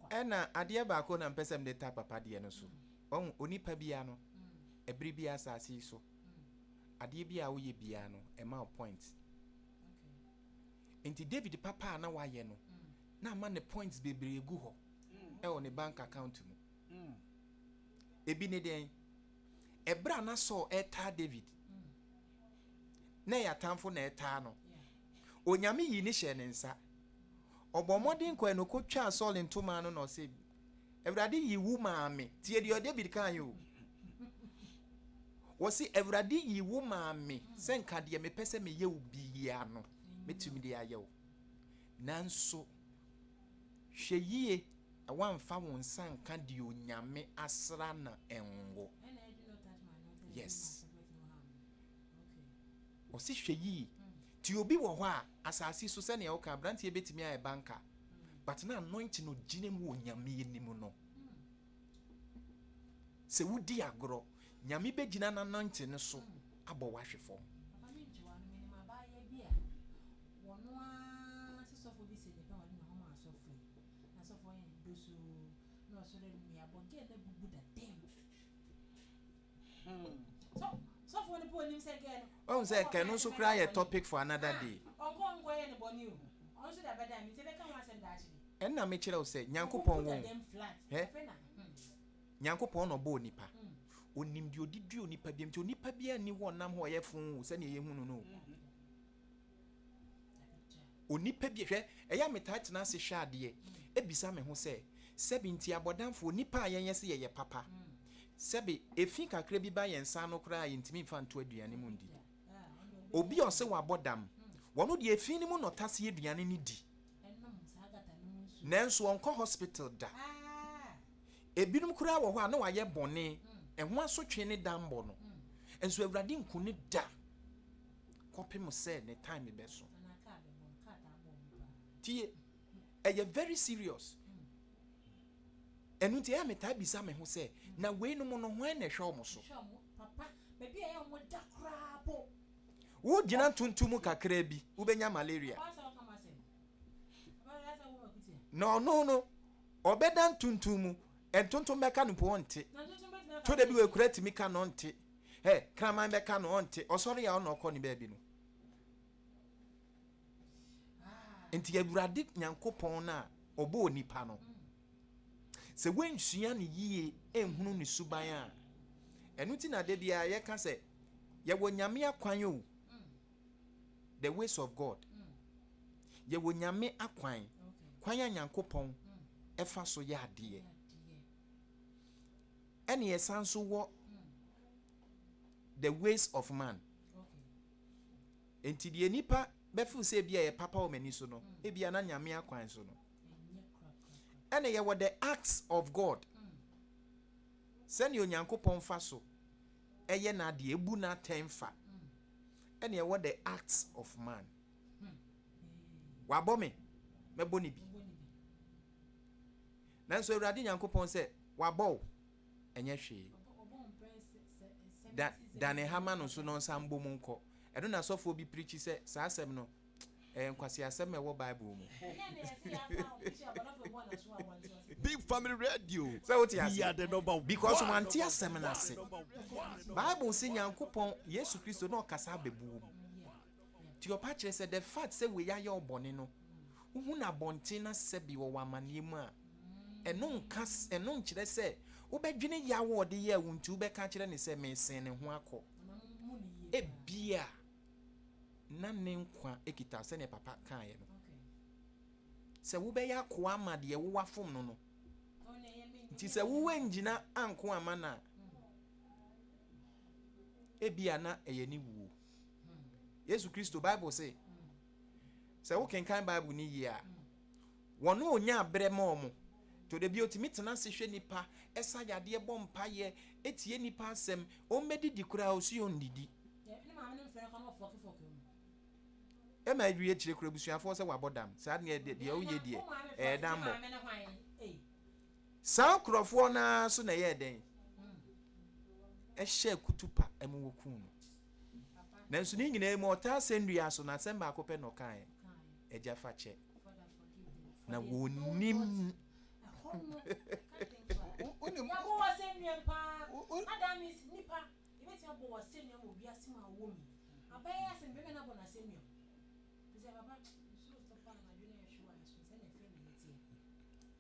Ɛna adeɛ baako na mpɛ sɛ mede ta papa deɛ no so. Wahu, onipa biara no, ɛberɛ biara asase yi so, adeɛ biara a woyɛ biara no, ɛma wo point. Enti David papa a na wayɛ no, na ama ne points bebree agu hɔ ɛwɔ ne bank account mu. Ebi ne dɛn? Ɛberɛ a na Saul ɛtaa David, na ɛyɛ atamfo na ɛtaa no. Onyame yii no hyɛɛ ne nsa. Ɔbɔɔ mmɔden kɔe na ɔkɔtwaa Saul ntoma ano na ɔse, Awurade yii wo maa me. Tie deɛ David kaeɛ o. Wɔse, Awurade yii wo maa me sɛ nka deɛ mepɛ sɛ meyɛ wo biara no, mɛtumi de ayɛ wo. Nanso, hwɛ yie na woamfa wo nsa nka deɛ Onyame asra no ngo. Yes. Ɔse hwɛ yie ti obi wɔ hɔ a asaase so sɛnea woka abranteɛ bɛtumi ayɛ banka but na anointing no gyina mu wɔ nyame anim no sɛ wodi agorɔ nyame bɛgyina no anointing no so abɔ wahwe fam wɔno ara sɛ sɔfo bi sɛ ne pɛ wɔne ne hɔma asɔfo yi na sɔfo yɛ dosoo na ɔsɔre no yɛabɔ gɛɛ na bubu da dɛm wahu sɛ kɛ no nso koraa yɛ topic for another ah, day ɛnna mekyerɛ wo sɛ nyankopɔn wɔ nyankopɔn na ɔbɔ onipa ɔnim hmm. deɛ ɔde dua onipa biam nti onipa biara nni hɔ ɔnam hɔ ɔyɛ fo sɛdeɛ yɛhu no no hmm. Onipa bi, hwɛ, ɛyɛ a metaa tena ase hwɛ adeɛ, bisa me ho sɛ, sɛbe nti abɔdamfoɔ, nnipa a yɛnyɛ sɛ yɛyɛ papa, sɛbe efi kakra bi ba yɛn nsa ano koraa a yɛntumi mfa nto aduane mu ndi? Obi a ɔse wabɔ dam, ɔno deɛ efi no mu na ɔtase aduane no di, nanso ɔnkɔ hospital da. Ebinom koraa wɔ hɔ a na wɔayɛ bɔne, ɛho asotwe ne dammɔ no, nso Awurade nku no da. kɔpem sɛ ne time bɛso. Tie, ɛyɛ very serious. Ɛno nti ɛyɛ a metaa bisa me ho sɛ, na weinom no hwan na ɛhwɛ wɔn so? Wogyina ntonto mu kakraa bi, wobɛnya malaria. Na ɔno no, ɔbɛda ntonto mu, ntonto mmɛka no mpo ɔnte. To da bi wɔakura tumi ka no ɔnte. Ɛ kraman bɛka no ɔnte ɔsɔre a ɔna ɔkɔ ne baabi no nti awurade nyankopɔn no a ɔbɔ onipa no sɛ woansua ne yie ɛnhunu ne suban a ɛno ti na da biara yɛka sɛ yɛwɔ nyame akwan o the ways of god yɛwɔ nyame akwan kwan a nyankopɔn ɛfa so yɛ adeɛ Ɛna yɛsan nso wɔ the ways of man. Nti deɛ nipa bɛfo sɛ ebi a yɛ papa wɔ m'ani so no, ebi a na nyame akwan so no. Ɛna yɛwɔ the acts of God. Sɛnea Onyankopɔn fa so ɛyɛ n'adeɛ, ebu n'atɛn fa. Ɛna yɛwɔ the acts of man. Wabɔ me, mɛbɔ ne bi. Nanso Awurade Nyankopɔn sɛ wabɔ wo ɛnyɛ hwee. Da dane ha ma no nso na ɔnsan mbɔ mu nkɔ. Ɛno na sɔfoɔ bi preachi sɛ saa asɛm no ɛyɛ nkwaseasɛm ɛwɔ Bible mu. Big family radio Sɛ wote we are aseɛ? the number Because one. wante asɛm no ase. Bible se Nyankopɔn, Yesu Kristo, na ɔkasa abɛbu wo mu. Deɛ ɔpa kyerɛ sɛ, the fact sɛ wei ayɛ wo bɔne no, wohu no abɔnten na sɛbi wɔwɔ amanneɛ mu a, ɛno nka, ɛno nkyerɛ sɛ wobɛdwene yaw a ɔde yɛɛ wo nti wobɛka akyerɛ no sɛ mesen ne ho akɔ. Ebia na ne nkwa kita wo sɛdeɛ papa kaeɛ no. Sɛ wobɛyɛ akoa ama deɛ wo wafom no no nti sɛ woangyina anko amma no a, ebia na ɛyɛ ne wuo. Yesu Kristo, Bible se, sɛ wokenkan Bible no yie a, wɔn a ɔnyaa berɛ ma wɔn, to da bi ɔtumi tena ase hwɛ nipa, ɛsa yadeɛ, bɔ mpaeɛ, ɛtie nipa asɛm, wɔn bɛdidi koraa ɔsi wɔn didi. ɛma ɛduru akyire koraa abusuafoɔ sɛ wabɔ dam, saa deɛ deɛ ɔyɛ deɛ ɛyɛ dammɔ. Saa nkurɔfoɔ no ara so na ɛyɛɛ dɛn? Ɛhyɛɛ kutupa mu wɔkuu no. Nanso ne nyinaa mu ɔtaa asɛnnua so na asɛm baako pɛ na ɔkaeɛ, agya fa kyɛ. Na wɔnim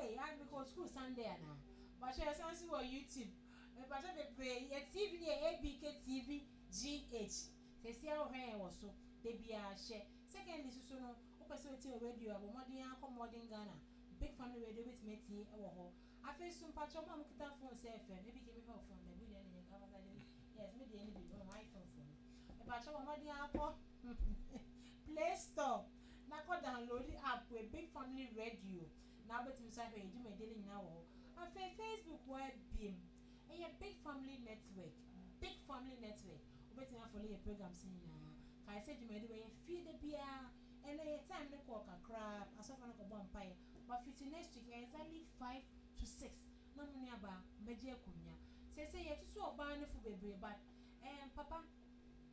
Ei ah me kɔ school Sunday anaa. Mpakyɛw yɛsan so wɔ YouTube mpakyɛw bebree yɛ TV no yɛ ABK TV GH sesia wo hwɛ yɛn wɔ so dabiaa hyɛ secondary soso no wo pɛ sɛ wo tie wɔ radio a bɔ mmɔden ara kɔ Modern Ghana Big Family Radio wo bɛtumi atie wɔ hɔ afei nso mpakyɛw mo a mo kita phone sɛ FM ABK me hwɛ wo phone dabi wo deɛ ne nyɛ Ghana Ghana deɛ yes me deɛ ne bi no iPhone foɔ no mpakyɛw bɔ mmɔden ara kɔ Play Store. na kɔ downloadi app wei Big Family Radio na wobɛtumi nso ahwɛ yɛn dwumadie no nyinaa wɔ hɔ. Afei Facebook hɔ ara biem, ɛyɛ Big Family Network, Big Family Network, wobɛtumi afɔlo yɛn programs no nyinaa. Kae sɛ dwumadie wei yɛ fie da biara, ɛnnɛ yɛn time no kɔɔ kakra, asɔfoɔ no kɔbɔ mpaeɛ, but fiti next week exactly five to six na mo nuabaa bɛgye akonnwa. Seesei yɛatutu ɔbaa no fo bebree but ɛɛm papa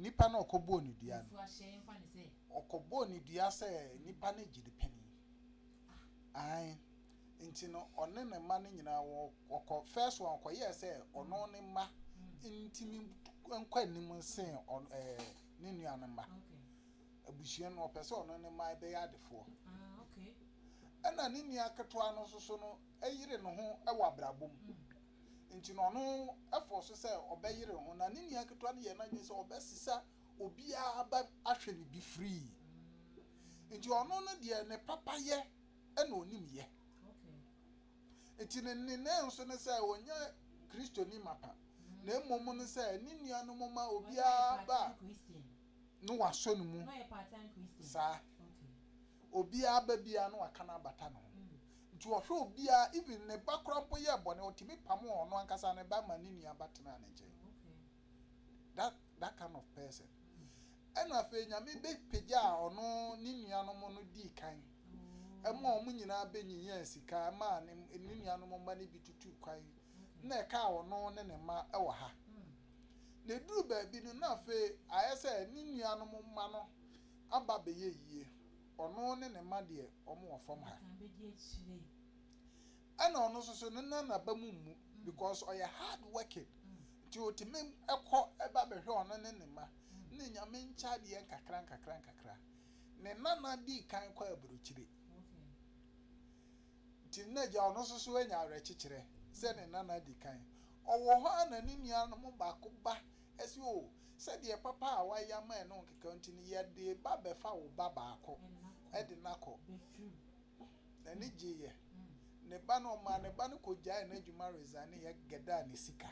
Nipa no ɔkɔbɔɔ no dua no, ɔkɔbɔɔ no dua sɛ nipa no gyidi panin. Ae. Nti no ɔne ne mma no nyinaa wɔkɔ, first one ɔkɔyɛɛ sɛ ɔno ne mma ntumi nkɔ anim nsen ne nua no mma. Abusua no ɔpɛ sɛ ɔno ne mma bɛyɛ adefoɔ. Ɛna ne nua ketewa no nso so no yere ne ho wɔ abrabɔ mu. nti no ɔno ɛfɔɔ so sɛ ɔbɛyere ho na ne nua ketewa no yɛɛ n'adwene sɛ ɔbɛsesa obiara aba ahwɛ no bi free nti ɔno no deɛ ne papa yɛ ɛna ɔnim yɛ nti ne nene nso ne sɛ ɔnyɛ kristoni mapa na mmom no sɛ ne nuanom ma obiara ba na wɔasɔ no mu saa. Obiara ba biara na wɔaka no abata ne ho. Nti ɔhwɛ obiara, even ne ba koraa mpo yɛɛ bɔne, ɔtumi pamoo ɔno ankasa ne ba ma ne nua ba tenaa ne nkyɛn. That, that kind of person. Ɛna afei Nyame bɛpagyaa ɔno ne nuanom no dii kan. Ɛma wɔn nyinaa bɛnyinyɛɛ sika, ɛma ne nuanom mma no bi tutuu kwan. Na ɛkaa ɔno ne ne mma wɔ ha. na eduruu baabi no, na afei ayɛ sɛ ne nuanom mma no aba abɛyɛ yie, ɔno ne ne mma deɛ wɔwɔ fam ha. Ɛna ɔno nso so ne nan n'aba mu mmu because ɔyɛ hard working nti ɔtumi kɔ ɛba bɛhwɛ ɔno ne ne mma ne nyame nkyɛ adeɛ nkakra nkakra nkakra. Ne nana dii kan kɔ aburokyire. Nti no na agya ɔno nso so anya awerɛkyekyerɛ sɛ ne nana adi kan. Ɔwɔ hɔ ara na ne nuanom mu baako ba se, O, sɛdeɛ papa a wayɛ ama yɛn no nkekaw nti no, yɛ de ba bɛfa wo ba baako de no akɔ. N'ani gyeeɛ. Ne ba no, ɔmaa ne ba no kɔgyaee n'adwuma resigneeɛ gɛdaa ne sika.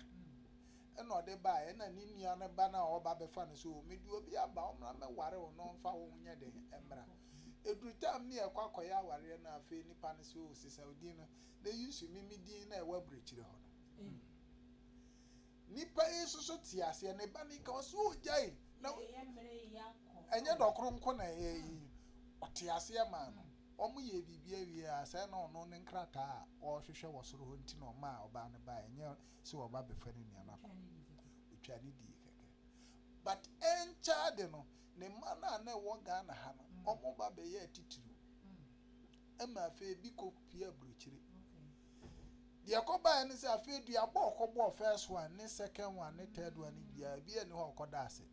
Ɛna ɔde baeɛ. Ɛna ne nua no ba no a ɔreba abɛfa no se, O, mede obi aba, ɔmmra mmɛware wo na ɔmfa wo ho nyɛ den mmra. Ɛduru tam ne yɛkɔ akɔyɛ awareɛ no a afei nipa no sɛ oh sesaw din no na yi nso me me din no a ɛwɔ aburokyire hɔ no. Nipa yi nso so te aseɛ ne ba no yi ka hɔ sɛ oh gyae na ɛnyɛ dɔkoro nko na ɛyɛ yi ɔte aseɛ maa no wɔn yɛ biribi awie a sɛ na ɔno ne nkrataa a ɔrehwehwɛ wɔ soro hɔ nti na ɔma a ɔbaa no baa ɛnyɛ sɛ ɔba bɛfa ne nua no akɔ ɔtwa ne die kɛkɛ but ɛnkyɛ ade no Ne mma no a na ɛwɔ Ghana ha no, wɔba bɛyɛ atitiriw. Ɛma afei ebi kɔ pue aburokyire. Deɛ ɛkɔbaeɛ ne sɛ afei duaba a ɔkɔbɔɔ first one ne second one ne third one no biara ebi ani hɔ a ɔkɔda ase.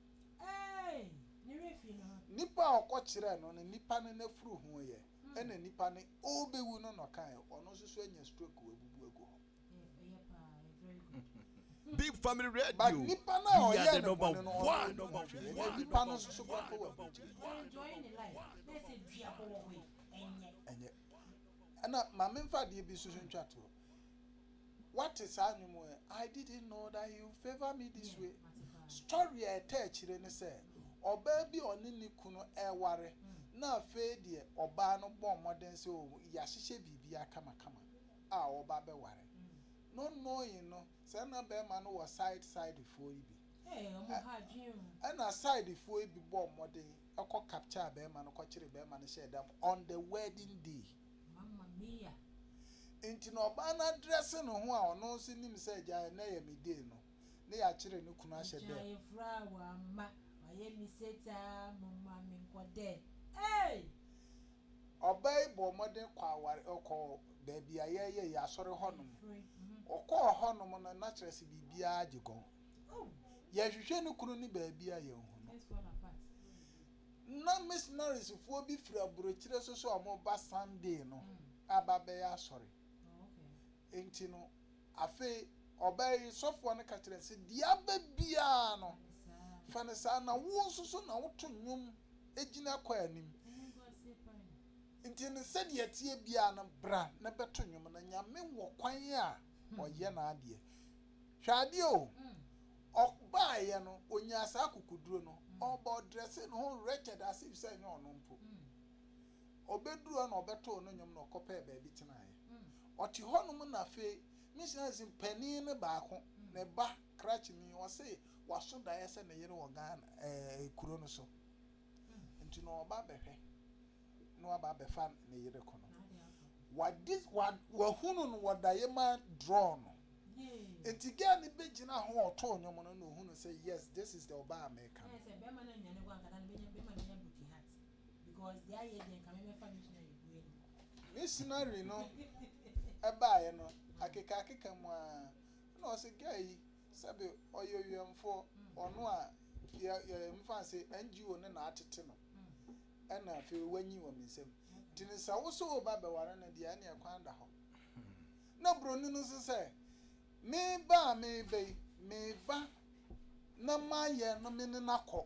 Nipa a ɔkɔkyerɛɛ no no, nipa no n'afuru ho yɛ, ɛna nipa no ɔrebɛwu no na ɔkaeɛ, ɔno nso so anya stroke wabubu agu hɔ. big family radio but nipa na ɔyɛ ne bɔne no ɔyɛ number one nipa no nso so kɔ akɔ wɔ aburukyiri ɛnyɛ ɛna maame nfa adeɛ bi nso so ntwa toɔ wate saa nnwom ɛ i didn't know that he would favour me this way story a ɛtɛ akyire ne sɛ ɔbaa bi ɔne ne kunu ɛware na afei deɛ ɔbaa no bɔ mmɔden sɛ yɛahyehyɛ biribi akamakama a ɔba bɛware no noe no sɛ na bɛɛma no wɔ side side foɔ yi bi ɛna side foɔ yi bi bɔɔ mmɔden kɔ capture bɛɛma no kɔkyere bɛɛma no hyɛɛ dam on the wedding day mama mia nti na ɔbaa no adrɛse ne ho a ɔno nso nim sɛ gya ɛnɛ yɛ me day no ne yakyere ne kunu ahyɛ dam. Nkyɛn fura wama wayɛ me sate a moma me nkɔ dɛ eei. Ɔbaa yi bɔɔ mmɔden kɔɔ aware, ɔkɔɔ baabi a yɛyɛ yɛn asɔre hɔnom. Ɔkɔɔ hɔnom no, na kyerɛ sɛ biribiara gye gɔn. Yɛhwehwɛ ne kunu no baabi a yɛanhu no. Ná misionariesfoɔ bi firi aburokyire so sɛ wɔreba Sunday no aba bɛyɛ asɔre. Enti no, Afei ɔbaa yi sɔfoɔ no ka kyerɛɛ sɛ, deɛ aba biara no, fa no saa, na wo nso so na woto nnwom gyina kɔ anim. Nti no sɛdeɛ ɛteɛ biara no, bra na bɛto nnwom, na Nyame wɔ kwan a ɔyɛ n'adeɛ. Hwɛ adeɛ o, ɔbaeɛ no, ɔnyaa saa akokoduro no, ɔba ɔdrɛsee ne ho wretched as if sɛ ɛnyɛ ɔno mpo. Ɔbɛduruu hɔ na ɔbɛtoo no nnwom na ɔkɔpɛɛ baabi tenaeɛ. Ɔte hɔnom na afei ne suasin panin no baako, ne ba, krakyeni, ɔse waso daeɛ sɛ ne yere wɔ Ghana, ɛɛ, kuro no so. Nti na ɔreba abɛhwɛ na waba abɛfa ne yere ko no. Wagye, wa, wahunu no wɔ daeɛ mu adrɔɔ no. Nti girl no bɛgyina ho a ɔtoo nnwom no na ɔhunu sɛ yes, this is the ɔbaa a mereka no. Because deɛ ayɛ deɛ nka me mɛfa me gyina yɛ bue no. Ne scenario no ɛbaeɛ no akeka akeka mu aa ɛna ɔse guy yi sɛbe ɔyɛ owiɛmfoɔ ɔno a yɛmfa no sɛ NGO no na atete no ɛna afei wanyin wɔ me nsam nti no sɛ wo so wo ba bɛware no deɛ ɛneɛ kwan da hɔ na buroni no nso sɛ me ba a meba yi me ba na mayɛ no me ne no akɔ.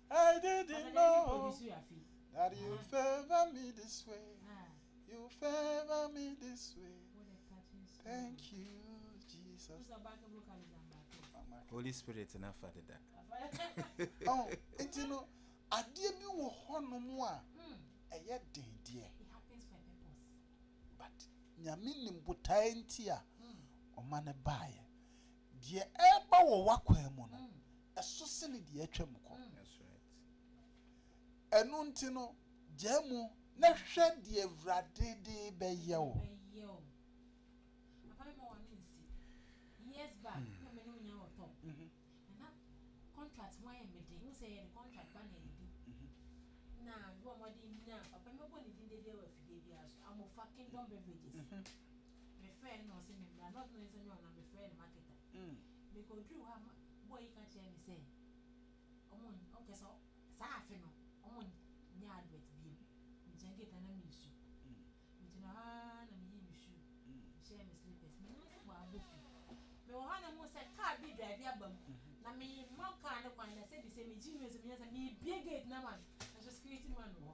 I didn't know that you favor me this way. You favor me this way. Thank you, Jesus. Holy Spirit na fa deda. Oh, nti no adeɛ bi wɔ hɔnom a ɛyɛ den deɛ. But nyame nim botae nti a ɔma no baeɛ. Deɛ ɛreba wɔ w'akwan mu no, ɛso sene deɛ atwam kɔ. Ɛno nti no, gyaa mu na hwɛ deɛ Awurade de bɛyɛ wo. Mikoduu hɔ a me boa yi ka kyerɛɛ me sɛ ɔnkyɛ sɛ saa afe no wɔnnyɛ advert bio. Migyina gate ano na miresu. Migyina hɔ ara na miyii me shoe, mehyɛɛ me slippers. Minnim sɛ wɔabɔ fi. Mewɔ hɔ a na mihu sɛ car bi redrive aba mu, na merema car no kwan, na sɛbisɛ megye nose mu, nyansa, mebue gate no ama no, nanso security man wɔ hɔ.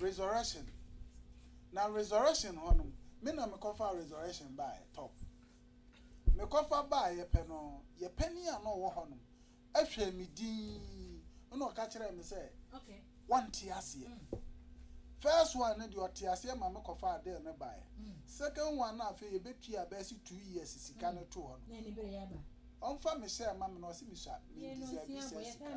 Resurrection na resurrection hɔ no me na mekɔfa resurrection baeɛ tɔ mekɔfa baeɛ pɛ no yɛ panin a na ɔwɔ hɔ no ɛhwɛɛ me din na ɔka kyerɛɛ me sɛ wɔnte aseɛ mm. first one no deɛ ɔte aseɛ ma mekɔfa adeɛ no baeɛ mm. second one no afei yɛbɛtwi abɛsi two years sika no mm. to hɔ no ɔmfa me sɛ ma me na ɔse mesua mendisabi sɛ sika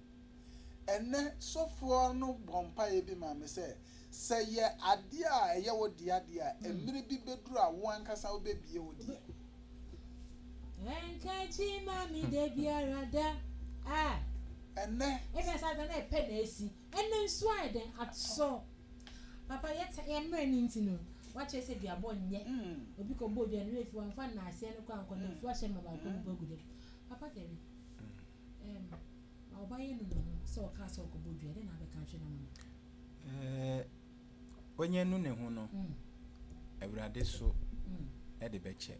Ɛnnɛ, sɔfoɔ no bɔɔ mpaeɛ bi maa me sɛ, Sɛ yɛ adeɛ a ɛyɛ wo dea deɛ a, mmerɛ bi bɛduru a wo ankasa wobɛbue wo deɛ. Ɛnka akyi mma me da biara da. Ah. Ɛnnɛ. Ebia saa da no yɛ pɛ na asi. Ɛnnɛ nso ayɛ dɛn atɔ? Papa, yɛn yɛn mmerɛ no nti no, wɔakyerɛ sɛ duabɔ nyɛ. Obi kɔbɔɔ dua no, ne werɛ fi hɔ, wamfa nnaaseɛ no kɔ ankɔ, na mfuo ahyɛ mma baako mpo agu dɛm. Papa Terry. Ɔnya nu ne ho no, Awurade so de bɛkyɛ.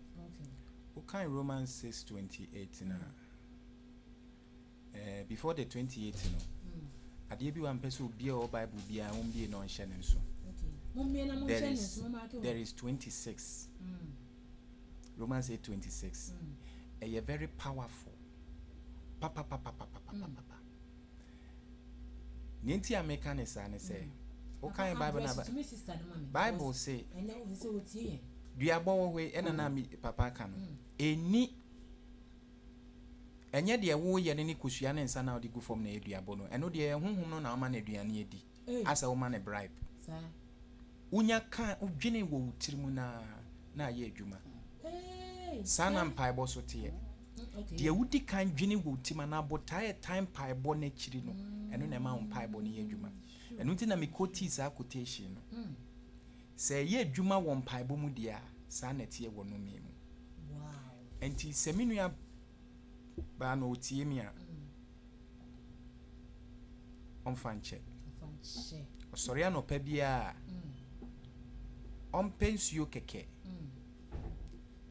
Wokan Romans six twenty eight no a, before the twenty eight no, adeɛ bi wɔ a mpɛ sɛ obi a ɔwɔ Bible biara wɔmbie na ɔnhyɛ ne nso. There is, there is twenty six. Romans eight twenty six ɛyɛ very powerful papapapapapapapa nea nti a meka ne saa ne sɛ wokan bible na bible se duabɔ wɔ hɔ yi ɛna na me papa aka no ɛni ɛnyɛ deɛ woyɛ no ne kosua ne nsa na wode gu fam na ɛyɛ duabɔ no ɛno deɛ ɛyɛ honhom no na wama no aduane adi asɛ wo ma no bribe wo nya ka wo dwene wɔ wo tiri mu na na ayɛ adwuma saa na mpaebɔ so teɛ deɛ wodi kan dwene wɔ wo ti ma na abotaa ɛtan mpaebɔ no akyiri no ɛno na ɛma wo mpaebɔ no yɛ adwuma ɛno nti na mekɔ tii saa quotation no sɛ ɛyɛ adwuma wɔ mpaebɔ mu deɛ a saa na ɛteɛ wɔ nomee mu nti sɛ me nua baa na ɔtie me a ɔmfa nkyɛ ɔsɔre anɔpa biara a ɔmpɛ nsuo kɛkɛ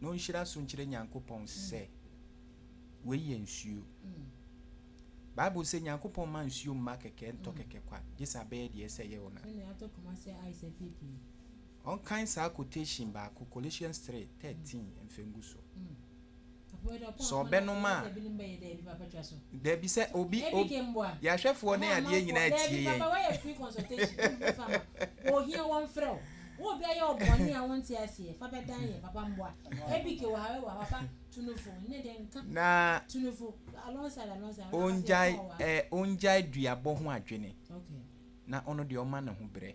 na ɔnhyira so nkyerɛ nyankopɔn sɛ wei yɛ nsuo bible sɛ nyankopɔn ma nsuo mma kɛkɛ ntɔ kɛkɛ kwa gye sɛ abɛyɛ deɛ ɛsɛ yɛ wo na Ɔnkan saa quotation baako, Colossians three, thirteen mfa ngu so. Sɛ ɔbɛnom a, dabi sɛ obi, obi, yɛn ahwɛfoɔ ne adeɛ nyinaa tie yɛn. Na ɔngyae, eh, ɔngyae duabɔ ho adwene, na ɔno deɛ ɔma ne ho berɛ.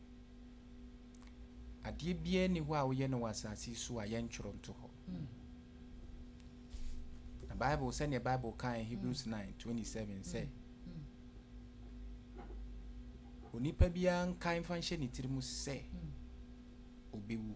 Adeɛ biara nni hɔ a woyɛ no wɔ asase yi so a yɛntwerɛ nto hɔ. Na Bible sɛdeɛ Bible kae Hebrews 9:27 sɛ onipa biara nkae mfa nhyɛ ne tiri mu sɛ ɔbɛwu.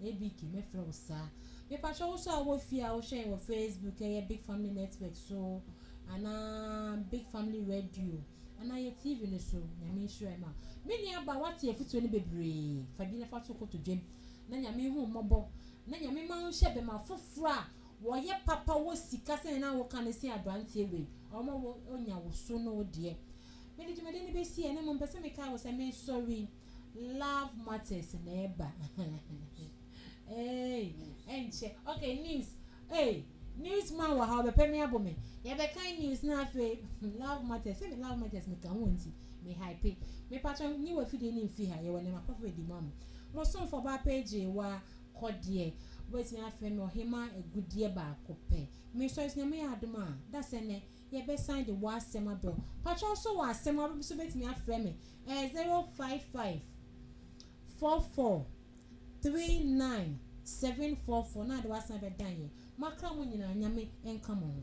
Ɛyɛ Beaky mɛfrɛ wo saa. Mepakyɛ wo nso a wowɔ fie a wohwɛ yɛn wɔ Facebook ɛyɛ Big Family Network so anaa Big Family Radio anaa yɛ TV no so Nyame nhyira yɛn ma me nua ba wate afutuo no bebree fa bi na fa to kotodwam na Nyame nhu wo mmɔbɔ na Nyame ma wo nhyɛ bɛma foforɔ a wɔyɛ papa wɔ sika sɛnea na woka no sen abranteɛ wei ɔma wo ɔnya wo so ne wo deɛ mede dwumadie no bɛsi ɛne mo mpɛ sɛ mekae wo sɛ mesɔre. love matters na ɛba eei ɛnkyɛ ok news eei news man wɔ ha ɔbɛpɛ me abo me yɛbɛkan news na afei love matters sɛ me love matters me ka ho nti me hype me patro nyi wɔ fidie ne mfi ha yɛwɔ nneɛma papa bɛdi ma mo mo somfo ba page wa kɔdeɛ wobɛtumi afrɛ me ɔhema agudeɛ baako pɛ mesɔre so nyame yɛ adom a dasɛ nɛ Yɛbɛsan de w'asɛm abrɛ wo. Pakyɛw so wɔ asɛm a wobɛpɛ so wobɛtumi afrɛ me ɛyɛ zero five five four four three nine seven four four na ade w'asan abɛdan yɛn. Moakra mo nyinaa Nyame nka mo ho.